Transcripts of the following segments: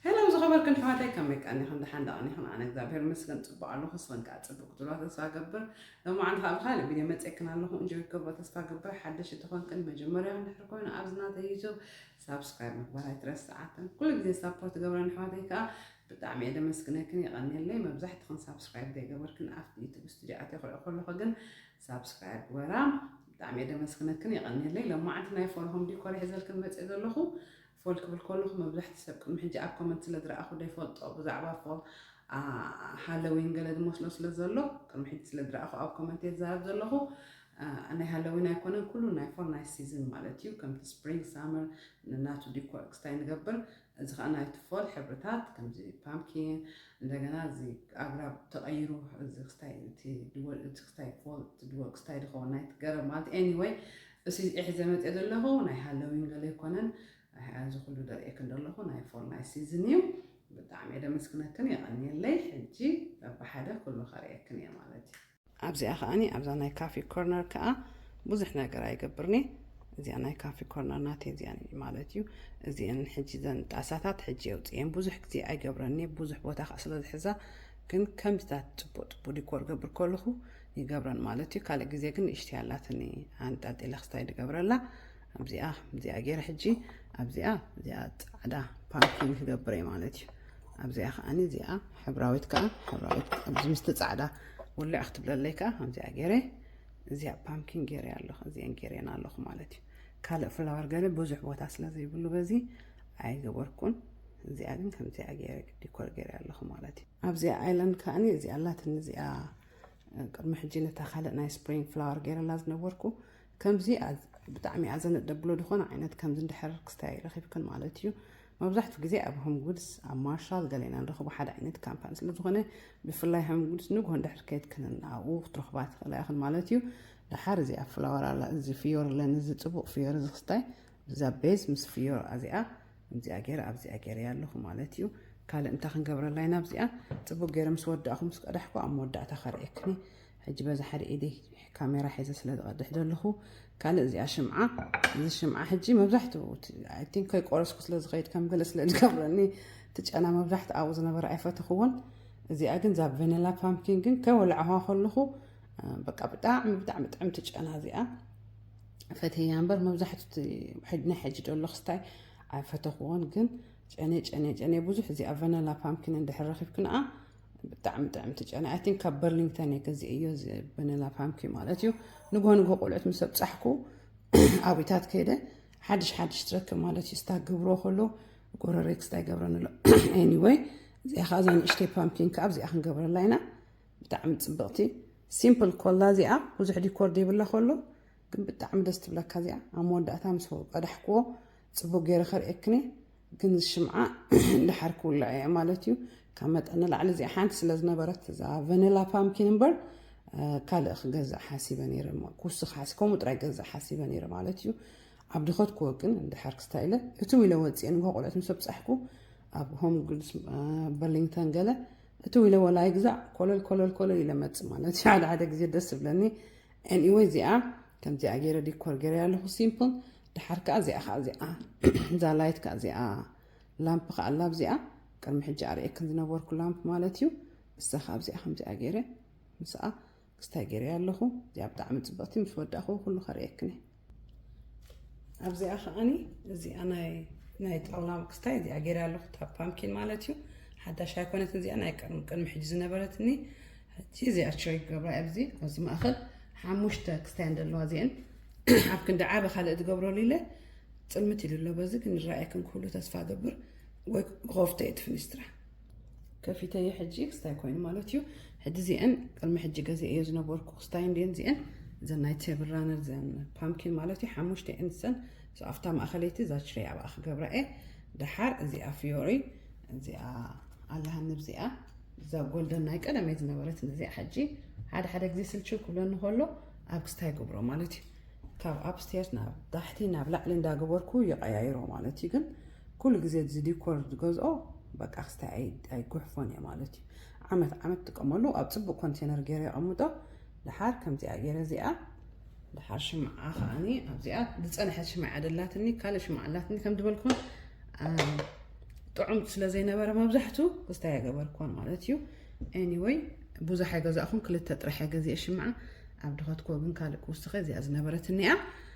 Hello ዝኸበርክን ኣሕዋተይ ከመይ ቀኒኽን ደሓን ዶ ቀኒኽን ኣነ እግዚኣብሔር ይመስገን ጽቡቕ ኣለኹ ንስኽን ከዓ ጽቡቕ ክትብላ ተስፋ ገብር ሎማዓንቲ ከዓ ብካልእ ቪድዮ መፅእክን ኣለኹ እንጆ ይገብሮ ተስፋ ገብር ሓደሽ እንተኾንክን መጀመርያ ክንድሕር ኮይኑ ኣብዚ ናተ ዩቱብ ሳብስክራይብ ምግባር ኣይትረስዓትን ኩሉ ግዜ ሳፖርት ገብረን ኣሕዋተይ ከዓ ብጣዕሚ እየ ደመስግነክን የቐኒየለይ መብዛሕትኽን ሳብስክራይብ ዘይገበርክን ኣብቲ ዩቱብ ስቱድዮ ኣትየ ክሪኦ ከለኹ ግን ሳብስክራይብ ግበራ ብጣዕሚ እየ ደመስግነክን የቐኒየለይ ሎማዓንቲ ናይ ፎርሆም ዲኮር ይሕዘልክን መፅእ ዘለኹ ፎል ክብል ከለኹ መብዛሕትኡ ሰብ ቅድሚ ሕጂ ኣብ ኮመንት ስለ ዝረኣኹ ዶ ይፈልጦ ብዛዕባ ፎል ሃለዊን ገለ ዝመስሎ ስለ ዘሎ ቅድሚ ሕጂ ስለ ዝረኣኹ ኣብ ኮመንት እየ ዝዛረብ ዘለኹ ናይ ሃለዊን ኣይኮነን ኩሉ ናይ ፎል ናይ ሲዝን ማለት እዩ ከምቲ ስፕሪንግ ሳመር ናቱ ዲኮር ክስታይ ንገብር እዚ ከዓ ናይቲ ፎል ሕብርታት ከምዚ ፓምኪን እንደገና እዚ ኣግራብ ተቐይሩ እዚ ክስታይ እቲ ክስታይ ፎል እቲ ድወል ክስታይ ዝኸውን ናይቲ ገረብ ማለት ኤኒወይ እሲ ሒዘ መጼ ዘለኹ ናይ ሃለዊን ገለ ኣይኮነን ኣዚ ኩሉ ደርእየክን ደለኹ ናይ ፎል ናይ ሲዝን እዩ ብጣዕሚ እየ ደመስግነክን የቀንየለይ ሕጂ በብሓደ ኩሉ ከርእየክን እየ ማለት እዩ ኣብዚኣ ከኣኒ ኣብዛ ናይ ካፊ ኮርነር ከኣ ብዙሕ ነገር ኣይገብርን እየ እዚኣ ናይ ካፊ ኮርነር ናተይ እዚኣ ማለት እዩ እዚአን ሕጂ ዘን ጣሳታት ሕጂ የውፅኤን ብዙሕ ግዜ ኣይገብረን እየ ብዙሕ ቦታ ከዓ ስለዝሕዛ ግን ከምዚታት ፅቡቅ ፅቡቅ ዲኮር ገብር ከለኹ ይገብረን ማለት እዩ ካልእ ግዜ ግን ንእሽተይ ኣላትኒ ኣንጣልጢለ ክስታይ ድገብረላ ኣብዚኣ እዚኣ ገይረ ሕጂ ኣብዚኣ እዚኣ ፃዕዳ ፓርኪን ክገብረ እዩ ማለት እዩ ኣብዚኣ ከዓኒ እዚኣ ሕብራዊት ከዓ ሕብራዊት ኣብዚ ምስቲ ፃዕዳ ውልዕ ክትብለለይ ከዓ ኣብዚኣ ገይረ እዚኣ ፓምኪን ገይረ ኣለኹ እዚአን ገይረን ኣለኹ ማለት እዩ ካልእ ፍላወር ገለ ብዙሕ ቦታ ስለ ዘይብሉ በዚ ኣይገበርኩን እዚኣ ግን ከምዚኣ ገይረ ዲኮር ገይረ ኣለኹ ማለት እዩ ኣብዚኣ ኣይላንድ ከዓኒ እዚኣ ኣላትኒ እዚኣ ቅድሚ ሕጂ ነታ ካልእ ናይ ስፕሪንግ ፍላወር ገይረላ ዝነበርኩ ከምዚ ብጣዕሚ እያ ዘነደብሎ ዝኾነ ዓይነት ከምዚ እንድሕር ክስታይ ረኺብክን ማለት እዩ መብዛሕትኡ ግዜ ኣብ ሆም ጉድስ ኣብ ማርሻል ገሌና ንረኽቦ ሓደ ዓይነት ካምፓኒ ስለ ዝኾነ ብፍላይ ሆም ጉድስ ንግሆ እንድሕር ከይትክንን ኣብኡ ክትረኽባ ትኽእላ ኢኽን ማለት እዩ ድሓር እዚ ኣብ ፍላወር እዚ ፍዮር ለን እዚ ፅቡቕ ፍዮር እዚ ክስታይ ብዛ ቤዝ ምስ ፍዮር ኣዚኣ ከምዚኣ ገይረ ኣብዚኣ ገይረያ ኣለኹ ማለት እዩ ካልእ እንታይ ክንገብረላ ኢና ኣብዚኣ ፅቡቅ ገይረ ምስ ወዳእኹ ምስ ቀዳሕኩ ኣብ መወዳእታ ከርእየክኒ ሕጂ በዛ ሓደ ኢደይ ካሜራ ሒዘ ስለ ዝቐድሕ ዘለኹ ካልእ እዚኣ ሽምዓ እዚ ሽምዓ ሕጂ መብዛሕትኡ ኣይ ቲንክ ከይቆረስኩ ስለ ዝኸይድ ከም ገለ ስለ ዝገብረኒ እቲ ጨና መብዛሕትኡ ኣብኡ ዝነበረ ኣይፈተኽዎን እዚኣ ግን እዛ ቨኒላ ፓምኪን ግን ከይወላዕዋ ከለኹ በቃ ብጣዕሚ ብጣዕሚ ጥዕምቲ ጨና እዚኣ ፈተያ እምበር መብዛሕቱ እቲ ሕድ- ናይ ሕጂ ደሎ ክስታይ ኣይፈተኽዎን ግን ጨኔ ጨኔ ጨኔ ብዙሕ እዚኣ ቨነላ ፓምኪን እንድሕር ረኺብኪ ንኣ ብጣዕሚ ጥዕምቲ ጨኔ ኣይ ቲንክ ካብ በርሊንግተን እየ ገዚአዮ እዚ ቨነላ ፓምኪን ማለት እዩ ንግሆ ንግሆ ቆልዑት ምስ ኣብፃሕኩ ኣብታት ከይደ ሓድሽ ሓድሽ ትረክብ ማለት እዩ ስታ ገብሮ ከሎ ጎረረይ ክስታ ይገብረን ኣሎ ኤኒወይ እዚኣ ከዓ እዛ ንእሽተይ ፓምኪን ከዓ ኣብዚኣ ክንገብረላ ኢና ብጣዕሚ ፅብቕቲ ሲምፕል ኮላ እዚኣ ብዙሕ ዲኮር ዘይብላ ኮሎ ግን ብጣዕሚ ደስ ትብለካ እዚኣ ኣብ መወዳእታ ምስ ቀዳሕክዎ ፅቡቅ ገይረ ከርእየክን ግን ሽምዓ ድሓር ክውላዕ እየ ማለት እዩ ካብ መጠን ንላዕሊ እዚኣ ሓንቲ ስለ ዝነበረት እዛ ቨኒላ ፓምኪን እምበር ካልእ ክገዛእ ሓሲበ ነይረ ክውስኽ ሓሲ ከምኡ ጥራይ ገዛእ ሓሲበ ነይረ ማለት እዩ ኣብ ድኸት ክወቅን እንድሕር ክስታይ ኢለ እትው ኢለ ወፅኤ ንግሆ ቆልዑት ምስ ኣብፃሕኩ ኣብ ሆም ጉድስ በርሊንግተን ገለ ፍትው ኢለዎ ላይክ ግዛዕ ኮለል ኮለል ኮለል ኢለ መጽ ማለት እዩ ሓደ ሓደ ግዜ ደስ ዝብለኒ ኤኒወይ እዚኣ ከምዚኣ ገይረ ዲኮር ገይረ ኣለኹ ሲምፕል ድሓር ከዓ እዚኣ ከዓ እዚኣ እዛ ላይት ከዓ እዚኣ ላምፕ ከዓ ኣላ ኣብዚኣ ቅድሚ ሕጂ ኣርእየክን ዝነበርኩ ላምፕ ማለት እዩ እሳ ከዓ ኣብዚኣ ከምዚኣ ገይረ ምስኣ ክስታይ ገይረያ ኣለኹ እዚኣ ብጣዕሚ ፅብቕቲ ምስ ወዳእኹ ኩሉ ከርእየክኒ ኣብዚኣ ከዓኒ እዚኣ ናይ ናይ ጣውላ ክስታይ እዚኣ ገይረ ኣለኹ እታ ፓምኪን ማለት እዩ ሓዳሽ ኣይኮነት እዚኣ ናይ ቅድሚ ሕጂ ዝነበረትኒ ሕጂ እዚኣ ሸይ ክገብራ ኣብዚ ኣብዚ ማእኸል ሓሙሽተ ክስታይ እንደለዋ እዚአን ኣብ ክንዲ ዓበ ካልእ ዝገብረሉ ኢለ ፅልምት ኢሉ ኣሎ በዚ ክንረኣየክን ክህሉ ተስፋ ገብር ወይ ኮፍተ የትፍኒስትራ ከፊተየ ሕጂ ክስታይ ኮይኑ ማለት እዩ ሕጂ እዚአን ቅድሚ ሕጂ ገዚአዮ ዝነበርኩ ክስታይ እንዲን እዚአን እዘን ናይ ቴብል ራነር ዘን ፓምኪን ማለት እዩ ሓሙሽተ እየን ዝፀን ኣብታ ማእኸለይቲ እዛ ችረይ ኣብኣ ክገብራ እየ ደሓር እዚኣ ፍዮሪ እዚኣ ኣለሃኒ ብዚኣ እዛ ጎልደን ናይ ቀደም እየ ዝነበረት እዚኣ ሕጂ ሓደ ሓደ ግዜ ስልችው ክብለኒ ከሎ ኣብ ክስታይ ይገብሮ ማለት እዩ ካብ ኣብስቴር ናብ ታሕቲ ናብ ላዕሊ እንዳገበርኩ ይቀያይሮ ማለት እዩ ግን ኩሉ ግዜ እዚ ዲኮር ዝገዝኦ በቃ ክስታይ ኣይጉሕፎን እየ ማለት እዩ ዓመት ዓመት ጥቀመሉ ኣብ ፅቡቅ ኮንቴነር ገይረ የቐምጦ ድሓር ከምዚኣ ገይረ እዚኣ ድሓር ሽምዓ ከዓኒ ኣብዚኣ ዝፀንሐት ሽምዓ እያ ደላትኒ ካልእ ሽምዓ ኣላትኒ ከም ዝበልኩም ጥዑም ስለ ዘይነበረ መብዛሕቱ ክስታይ ኣይገበርኩን ማለት እዩ ኤኒወይ ብዙሕ ኣይገዛእኹም ክልተ ጥራሕ ገዚአ ሽምዓ ኣብ ድኸትኮ ግን ካልእ ክውስኸ እዚኣ ዝነበረትኒ እያ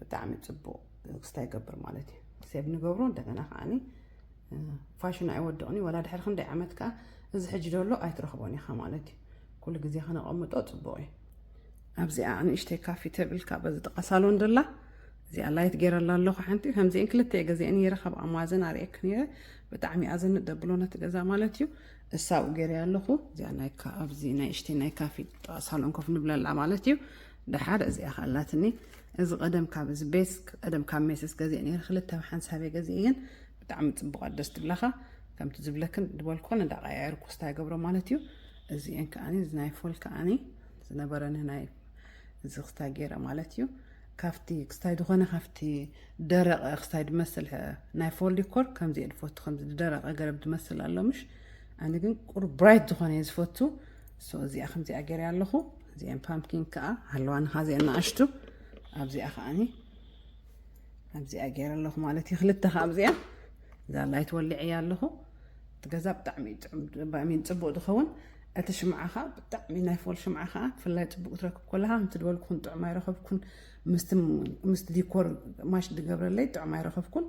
ብጣዕሚ ፅቡቅ ክስታ ይገብር ማለት እዩ ሴብ ንገብሮ እንደገና ከዓ ፋሽን ኣይወድቕን ወላ ድሕሪ ክንደይ ዓመት ከዓ እዚ ሕጂ ደሎ ኣይትረኽቦን ኢኻ ማለት እዩ ኩሉ ግዜ ከነቐምጦ ፅቡቅ እዩ ኣብዚኣ ንእሽተይ ካፊ ተብልካ በዚ ጥቃ ሳሎን ደላ እዚኣ ላይት ገይረላ ኣለኹ ሓንቲ ከምዚአን ክልተ ገዚአ ነይረ ካብ ኣማዘን ኣርእየክ ነይረ ብጣዕሚ እያ ዘንደብሎ ነቲ ገዛ ማለት እዩ እሳብኡ ገይረያ ኣለኹ እዚኣ ናይ ኣብዚ ናይ እሽተይ ናይ ካፊ ጥቃ ሳሎን ኮፍ ንብለላ ማለት እዩ ደሓር እዚኣ ከ ኣላትኒ እዚ ቀደም ካብ እዚ ቤት ቀደም ካብ ሜስስ ገዚእ ነይረ ክልተ ኣብ ሓንሳበይ ገዚእ እየን ብጣዕሚ ፅቡቃት ደስ ትብላካ ከምቲ ዝብለክን ድበልኮን እንዳቀያየር ኮስታ ይገብሮ ማለት እዩ እዚኤን ከዓኒ እዚ ናይ ፎል ከዓኒ ዝነበረኒ ናይ እዚ ክስታይ ገይረ ማለት እዩ ካብቲ ክስታይ ዝኾነ ካብቲ ደረቐ ክስታይ ድመስል ናይ ፎል ዲኮር ከምዚ እየ ድፈቱ ከምዚ ዝደረቐ ገረብ ድመስል ኣሎ ምሽ ኣነ ግን ቁሩብ ብራይት ዝኾነ እየ ዝፈቱ ሶ እዚኣ ከምዚኣ ገይረያ ኣለኹ እዚኤን ፓምኪን ከዓ ሃለዋንኻ እዚኤን ንኣሽቱ ኣብዚኣ ከዓኒ ኣብዚኣ ገይረ ኣለኹ ማለት እዩ ክልተ ከዓ ኣብዚኣ እዛ ላይት ወሊዐያ ኣለኹ እቲ ገዛ ብጣዕሚ ባእሚን ፅቡቅ ዝኸውን እቲ ሽምዓ ከዓ ብጣዕሚ ናይ ፎል ሽምዓ ከዓ ብፍላይ ፅቡቅ ትረክብ ኮለካ ከምቲ ዝበልኩኹን ጥዑም ኣይረኸብኩን ምስ ዲኮር ማሽ ዝገብረለይ ጥዑም ኣይረኸብኩን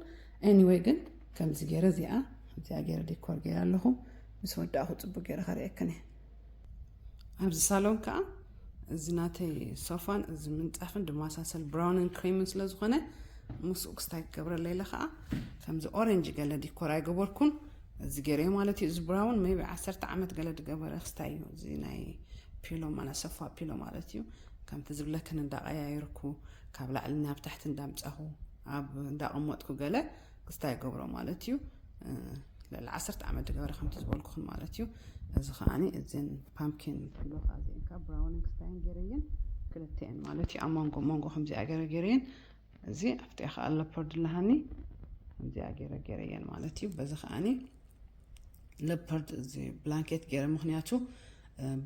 ኤኒወይ ግን ከምዚ ገይረ እዚኣ እዚኣ ገይረ ዲኮር ገይረ ኣለኹ ምስ ወዳእኹ ጽቡቅ ገይረ ከርእየክን እየ። ኣብዚ ሳሎን ከኣ እዚ ናተይ ሶፋን እዚ ምንጻፍን ድማሳሰል ብራውንን ክሬምን ስለ ዝኾነ ምስኡ ክስታይ ክገብረለይ ኢለ ከኣ ከምዚ ኦረንጅ ገለ ዲኮር ኣይገበርኩን እዚ ገይረ ማለት እዩ። እዚ ብራውን ሜቢ ዓሰርተ ዓመት ገለ ዝገበረ ክስታይ እዩ። እዚ ናይ ፒሎ ማለት ሶፋ ፒሎ ማለት እዩ። ከምቲ ዝብለክን እንዳቀያየርኩ ካብ ላዕሊ ናብ ታሕቲ እንዳምጻኹ ኣብ እንዳቀመጥኩ ገለ ክስታይ ይገብሮ ማለት እዩ ልዕሊ ዓሰርተ ዓመት ዝገበረ ከምቲ ዝበልኩኹም ማለት እዩ እዚ ከዓ እዚን ፓምኪን ኪሎ ከዓ እዚአን ከዓ ብራውንን ክስታየን ገይረየን ክልተኤን ማለት እዩ ኣብ መንጎ መንጎ ከምዚኣ ገይረ ገይረየን እዚ ኣብቲ ከዓ ለፐርድ ለሃኒ ከምዚኣ ገይረ ገይረየን ማለት እዩ በዚ ከዓኒ ለፐርድ እዚ ብላንኬት ገይረ ምክንያቱ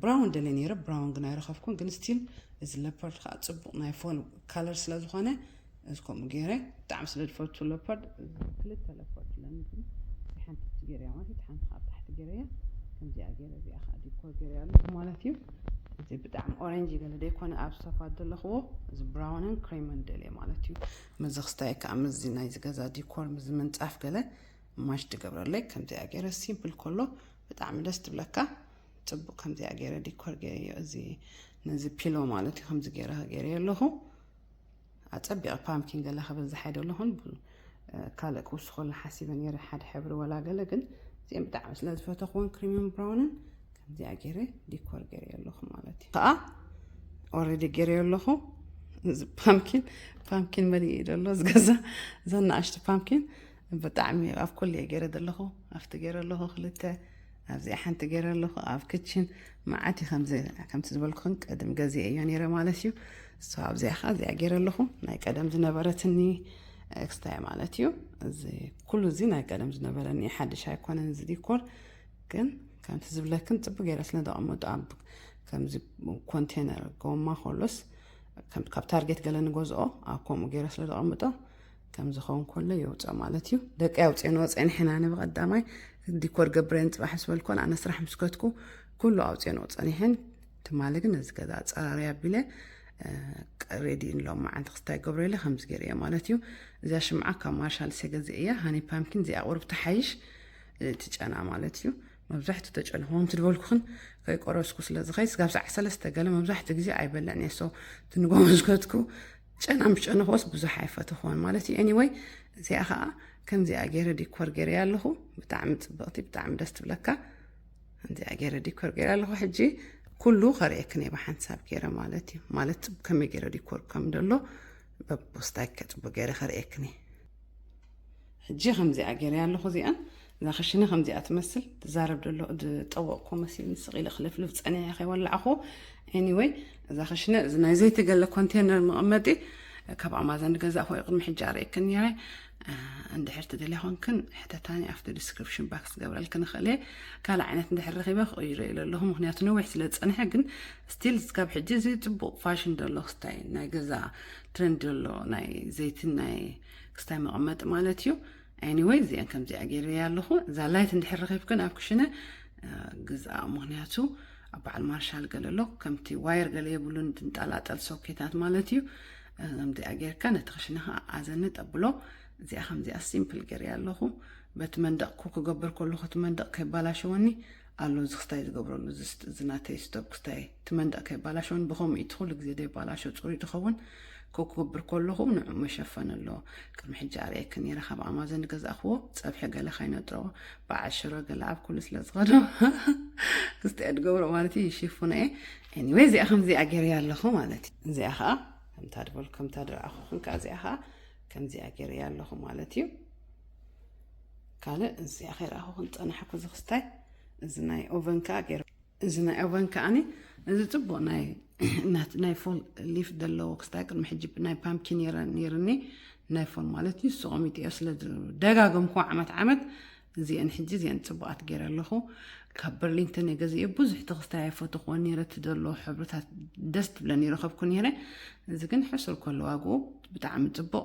ብራውን ደለ ነይረ ብራውን ግን ኣይረኸብኩን ግን ስቲል እዚ ለፐርድ ከዓ ፅቡቅ ናይ ፎል ካለር ስለዝኾነ እዚ ከምኡ ገይረ ብጣዕሚ ስለ ዝፈቱ ለፖርድ ክልተ ለፖርድ ኣለኒ ግን እዚ ሓንቲ ገይረያ ማለት እቲ ሓንቲ ካብ ታሕቲ ገይረያ ከምዚኣ ገይረ እዚኣ ከዓ ዲኮር ገይረያ ኣለኹ ማለት እዩ እዚ ብጣዕሚ ኦረንጅ ገለ ዘይኮነ ኣብ ሶፋ ዘለኽዎ እዚ ብራውንን ክሬምን ደልየ ማለት እዩ ምዚ ክስታይ ከዓ ምዚ ናይ ዝገዛ ዲኮር ምዚ ምንፃፍ ገለ ማሽ ትገብረለይ ከምዚኣ ገይረ ሲምፕል ከሎ ብጣዕሚ ደስ ትብለካ ፅቡቅ ከምዚኣ ገይረ ዲኮር ገይረዮ እዚ ነዚ ፒሎ ማለት እዩ ከምዚ ገይረ ገይረዮ ኣለኹ ኣጸቢቐ ፓምኪን ገለ ክብል ዝሓይደሉ ኹን ብ ካልእ ክውስኸሉ ሓሲበ ነይረ ሓደ ሕብሪ ወላ ገለ ግን እዚኦም ብጣዕሚ ስለ ዝፈተኽዎን ክሪምን ብራውንን ከምዚኣ ገይረ ዲኮር ገይረ ኣለኹ ማለት እዩ ከዓ ኦልሬዲ ገይረ ኣለኹ እዚ ፓምኪን ፓምኪን መሊእ እዩ ዘሎ ዝገዛ ዘናእሽቲ ፓምኪን ብጣዕሚ ኣብ ኩሉ እየ ገይረ ዘለኹ ኣብቲ ገይረ ኣለኹ ክልተ ኣብዚኣ ሓንቲ ገይረ ኣለኹ ኣብ ክችን መዓት እዩ ከምዚ ከምቲ ዝበልኩኽን ቀድም ገዜ እዮ ነይረ ማለት እዩ እሱ ኣብዚኣ ከዓ እዚኣ ገይረ ኣለኹ ናይ ቀደም ዝነበረትኒ ኤክስታይ ማለት እዩ እዚ ኩሉ እዚ ናይ ቀደም ዝነበረኒ ሓድሽ ኣይኮነን እዚ ዲኮር ግን ከምቲ ዝብለክን ፅቡቅ ገይረ ስለ ዘቐመጡ ኣብ ከምዚ ኮንቴነር ጎማ ኮሎስ ካብ ታርጌት ገለ ንገዝኦ ኣብ ከምኡ ገይረ ስለ ዘቐምጦ ከም ዝኸውን ኮሎ የውፀ ማለት እዩ ደቂ ኣውፅኦን ወፅኦን ሕና ነ ብቐዳማይ ዲኮር ገብረን ፅባሕ ዝበልኮን ኣነ ስራሕ ምስከትኩ ኩሉ ኣውፅኦን ወፅኦን ይሕን ትማሊ ግን እዚ ገዛ ኣፀራርያ ኣቢለ ሬዲን ሎም መዓንቲ ክስታይ ገብረ ኢለ ከምዚ ገይረ እየ ማለት እዩ እዛ ሽምዓ ካብ ማርሻል ሰገዚ እያ ሃኒ ፓምኪን እዚኣ ቁርብ ተሓይሽ እቲ ጨና ማለት እዩ መብዛሕትኡ ተጨንኹዎም ትድበልኩኽን ከይቆረስኩ ስለ ዝኸይ ስጋብ ሰዓት ሰለስተ ገለ መብዛሕትኡ ግዜ ኣይበልዕን እየ ሶ ትንጎ ዝከትኩ ጨና ምስ ጨነኾስ ብዙሕ ኣይፈተኾን ማለት እዩ ኤኒወይ እዚኣ ከዓ ከምዚኣ ገይረ ዲኮር ገይረያ ኣለኹ ብጣዕሚ ፅብቕቲ ብጣዕሚ ደስ ትብለካ ከምዚኣ ገይረ ዲኮር ገይረ ኣለኹ ሕጂ ኩሉ ከርእየክን እየ ብሓንሳብ ገይረ ማለት እዩ ማለት ከመይ ገይረ ዲኮር ከም ደሎ በቦስታይ ከፅቡቅ ገይረ ከርእየክን እየ ሕጂ ከምዚኣ ገይረያ ኣለኹ እዚኣን እዛ ክሽነ ከምዚኣ ትመስል ትዛረብ ደሎ ዝጠወቕኮ መሲልኒ ስቕ ኢለ ክልፍልፍ ፀኒሐ ከይወላዕኹ ኤኒወይ እዛ ክሽነ እዚ ናይ ዘይተገለ ኮንቴነር መቐመጢ ካብ ኣማዞን ገዛ ኮይ ቅድሚ ሕጂ ኣርእየክን ነረ እንድሕር ትደልያ ኮንክን ሕተታኒ ኣብቲ ዲስክሪፕሽን ባክስ ገብረልክን እኽእል እየ ካልእ ዓይነት እንድሕር ረኺበ ክቕይሮ ኢለ ኣለኹ ምክንያቱ ነዊሕ ስለ ዝፀንሐ ግን ስቲል ስካብ ሕጂ እዚ ፅቡቕ ፋሽን ዘሎ ክስታይ ናይ ገዛ ትረንድ ዘሎ ናይ ዘይትን ናይ ክስታይ መቐመጢ ማለት እዩ Anyway እዚኣ ከምዚኣ ገይረያ ኣለኹ እዛ ላይት እንድሕር ረኺብክን ኣብ ክሽነ ግዝኣ ምክንያቱ ኣብ በዓል ማርሻል ገለ ኣሎ ከምቲ ዋየር ገለ የብሉን ድንጣላጠል ሶኬታት ማለት እዩ ከምዚኣ ጌርካ ነቲ ክሽነኻ ኣዘኒ ጠብሎ እዚኣ ከምዚኣ ሲምፕል ገይረያ ኣለኹ በቲ መንደቕኩ ክገብር ከለኹ እቲ መንደቕ ከይባላሸወኒ ኣሎ እዚ ክስታይ ዝገብረሉ ዝስጥ እዚ ናተይ ስቶፕ ክስታይ እቲ መንደቅ ከይባላሸውን ብከምኡ እቲ ኩሉ ግዜ ደይባላሸው ጽሩይ ድኸውን ክኩብር ኮለኹ ንዑ መሸፈን ኣሎ ቅድሚ ሕጂ ኣርእየኪ ነይረ ካብ ኣማዘን ዝገዛእክዎ ጸብሒ ገለ ካይነጥሮ በዓል ሽሮ ገለ ኣብ ኩሉ ስለ ዝኸዶ ክስታይ ድገብሮ ማለት እዩ ይሽፉነ እየ ኤኒወይ እዚኣ ከምዚኣ ገይረያ ኣለኹ ማለት እዩ እዚኣ ከዓ ከምታ ድበልኩ ከምታ ድረኣኹ ክንካ እዚኣ ከዓ ከምዚኣ ገይረያ ኣለኹ ማለት እዩ ካልእ እዚኣ ከይረኣኹ ክንፀናሓኩ እዚ ክስታይ እዚ ናይ ኦቨን ከዓ ገይረ እዚ ናይ ኦቨን ከዓኒ እዚ ፅቡቅ ናይ ናይ ፎል ሊፍ ዘለዎ ክስታይ ቅድሚ ሕጂ ናይ ፓምኪን ነይርኒ ናይ ፎል ማለት እዩ ሱቆሚጥ እዮ ስለ ደጋገምኩ ዓመት ዓመት እዚአን ሕጂ እዚአን ፅቡቃት ገይረ ኣለኹ ካብ በርሊንተን እየ ገዚኦ ብዙሕ ተክስታይ ኣይፈትኹዎ ነይረ እቲ ዘለዎ ሕብርታት ደስ ትብለኒ ይረኸብኩ ነይረ እዚ ግን ሕሱር ከሎ ዋግኡ ብጣዕሚ ፅቡቅ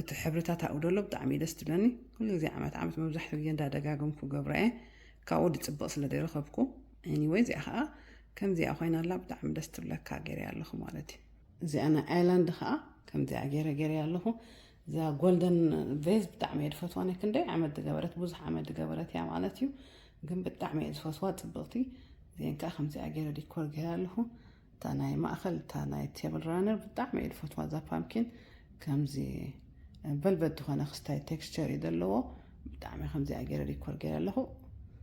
እቲ ሕብርታት ኣብኡ ደሎ ብጣዕሚ እዩ ደስ ትብለኒ ኩሉ ግዜ ዓመት ዓመት መብዛሕትኡ ግዜ እንዳደጋገምኩ ገብራ እየ ካብኡ ድፅብቕ ስለ ዘይረኸብኩ ኤኒወይ እዚኣ ከዓ ከምዚኣ ኮይና ኣላ ብጣዕሚ ደስ ትብለካ ገይረ ኣለኹ ማለት እዩ እዚኣ ናይ ኣይላንድ ከዓ ከምዚኣ ገይረ ገይረ ኣለኹ እዛ ጎልደን ቬዝ ብጣዕሚ እየ ድፈትዋ ናይ ክንደይ ዓመት ዝገበረት ብዙሕ ዓመት ዝገበረት እያ ማለት እዩ ግን ብጣዕሚ እየ ዝፈትዋ ፅብቕቲ እዚአን ከዓ ከምዚኣ ገይረ ዲኮር ገይረ ኣለኹ እታ ናይ ማእኸል እታ ናይ ቴብል ራነር ብጣዕሚ እየ ዝፈትዋ እዛ ፓምኪን ከምዚ ቨልቨት ዝኾነ ክስታይ ቴክስቸር እዩ ዘለዎ ብጣዕሚ ከምዚኣ ገይረ ዲኮር ገይረ ኣለኹ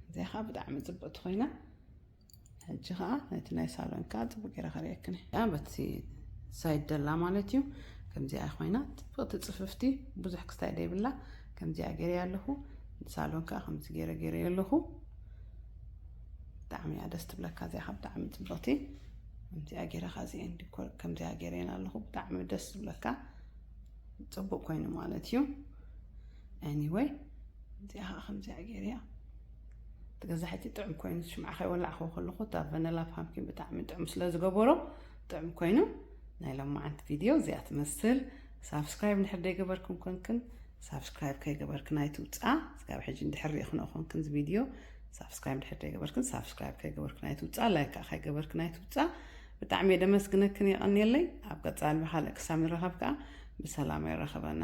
እዚኣ ከዓ ብጣዕሚ ፅብቕቲ ኮይና ሕጂ ከዓ ነቲ ናይ ሳሎን ከዓ ፅቡቅ ገይረ ከርእየክን በቲ ሳይድ ደላ ማለት እዩ ከምዚኣ ኮይና ፅብቕቲ ፅፍፍቲ ብዙሕ ክስታይ ደይብላ ከምዚኣ ገይረ ኣለኹ ሳሎን ከዓ ከምዚ ገይረ ገይረ ኣለኹ ብጣዕሚ እያ ደስ ትብለካ እዚኣኻ ብጣዕሚ ፅብቕቲ ከምዚኣ ገይረ ካዚኤን ዲኮር ከምዚኣ ገይረን ኣለኹ ብጣዕሚ ደስ ዝብለካ ፅቡቅ ኮይኑ ማለት እዩ ኤኒወይ እዚኣ ከዓ ከምዚኣ ገይረ እያ ገዛሒቲ ጥዑም ኮይኑ ሽምዓ ከይወላዕኹ ከለኹ እታ ቨነላ ፓምኪን ብጣዕሚ ጥዑም ስለ ዝገበሮ ጥዑም ኮይኑ ናይ ሎማዓንቲ ቪድዮ እዚኣ ትመስል ሳብስክራይብ ንሕደይ ገበርኩም ኮንክን ሳብስክራይብ ከይገበርክን ኣይትውፅኣ ስጋብ ሕጂ እንድሕር ሪኢኽን ኦኾንክን እዚ ቪድዮ ሳብስክራይብ ድሕር ዘይገበርክን ሳብስክራይብ ከይገበርክን ኣይትውፅኣ ላይክ ከዓ ከይገበርክን ኣይትውፅኣ ብጣዕሚ እየ ደመስግነክን የቐንየለይ ኣብ ቀፃሊ ብካልእ ክሳብ ንራኸብ ከዓ ብሰላም የራኸበና